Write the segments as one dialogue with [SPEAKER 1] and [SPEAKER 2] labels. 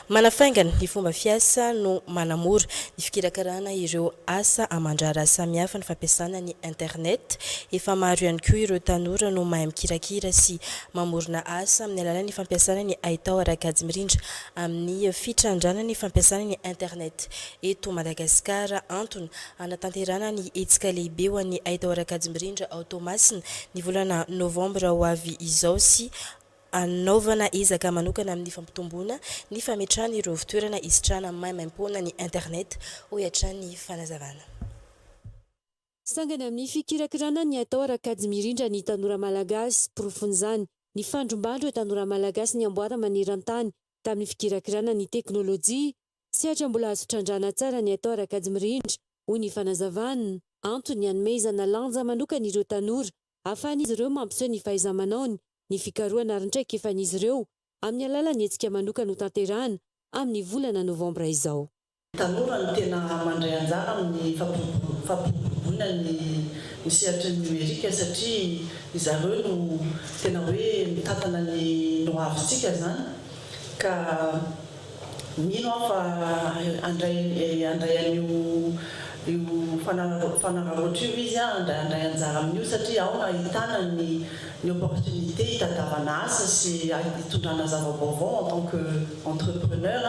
[SPEAKER 1] Manafaingana ny fomba fiasa no manamora ny fikirakarana ireo asa aman-draharaha samihafa ny fampiasana ny internet. Efa maro ihany koa ireo tanora no mahay mikirakira sy mamorona asa amin'ny alalan'ny fampiasana ny haitao ara-kajy mirindra amin'ny fitrandrana ny fampiasana ny internet eto Madagasikara. Antony Hanatanterahana ny hetsika lehibe ho an'ny haitao ara-kajy mirindra ao Toamasina ny volana novambra ho avy izao sy hanaovana ezaka manokana amin'ny fampitomboana ny fametrahana ireo fitoerana hisitrahana maimaimpoana ny internet, hoy hatrany ny fanazavana. Sangany
[SPEAKER 2] amin'ny fikirakirana ny haitao ara-kajy mirindra ny tanora malagasy. Porofon'izany ny fandrombahan'ireo tanora malagasy ny amboara maneran-tany tamin'ny fikirakirana ny teknolojia Tsy hatra mbola azo trandrahana tsara ny atao Rakajy Mirindra, hoy ny fanazavana. Antony hanomezana lanja manokana ireo tanora, ahafahan'izy ireo mampiseho ny fahaiza-manaony, ny fikarohana ary ny traikefan'izy ireo, amin'ny alalan'ny hetsika manokana hotanterahana amin'ny volana novambra izao. Tanora no
[SPEAKER 3] tena mandray anjara amin'ny fampiroboroboana ny ny sehatry ny nomerika satria izareo no tena hoe mitantana ny nohavintsika izany ka Mino aho fa handray handray an'io io fanararaotra io izy, handray handray anjara amin'io satria ao no ahitana ny ny opportunité hitadiavana asa sy hitondrana zava-baovao en tant que entrepreneur,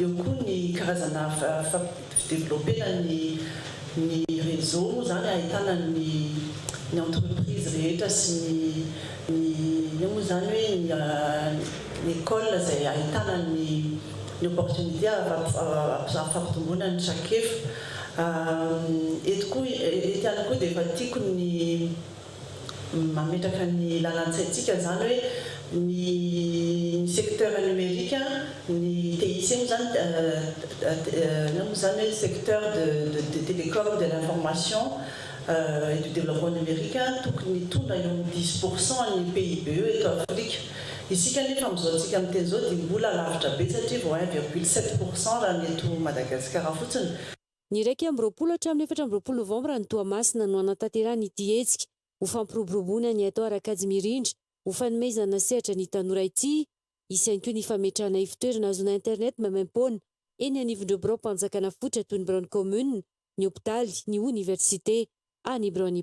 [SPEAKER 3] eo koa ny karazana Developpena ny ny réseau moa izany ahitana ny ny entreprise rehetra sy ny ny inona moa izany hoe ny ny école izay ahitana ny ny opportunité hampitomboana ny trakefa. Eto koa, eto ihany koa dia efa tiako ny. Mametraka ny lalan-tsaintsika izany hoe ny ny secteur numérique, ny TIC moa izany, inona moa izany hoe secteur de de télécom, de l'information et du développement numérique tokony hitondra eo amin'ny dix pour cent an'ny PIBE eto Afrika. Isika anefa amin'izao antsika miteny izao dia mbola lavitra be satria vao un virgule sept pour cent raha ny eto Madagasikara fotsiny. Ny iraika amby
[SPEAKER 2] roapolo hatramin'ny efatra amby roapolo novambra any Toamasina no hanatanterahana ity hetsika ho fampiroboroboana ny haitao ara-kajy mirindra ho fanomezana sehatra ny tanora ity. Hisy ihany koa ny fametrahana ivotoerana hahazoana internet maimaim-poana eny anivon'ireo biraom-panjakana foitra toy ny biraon'ny kaominina, ny hopitaly, ny oniversite, ary ny biraon'ny.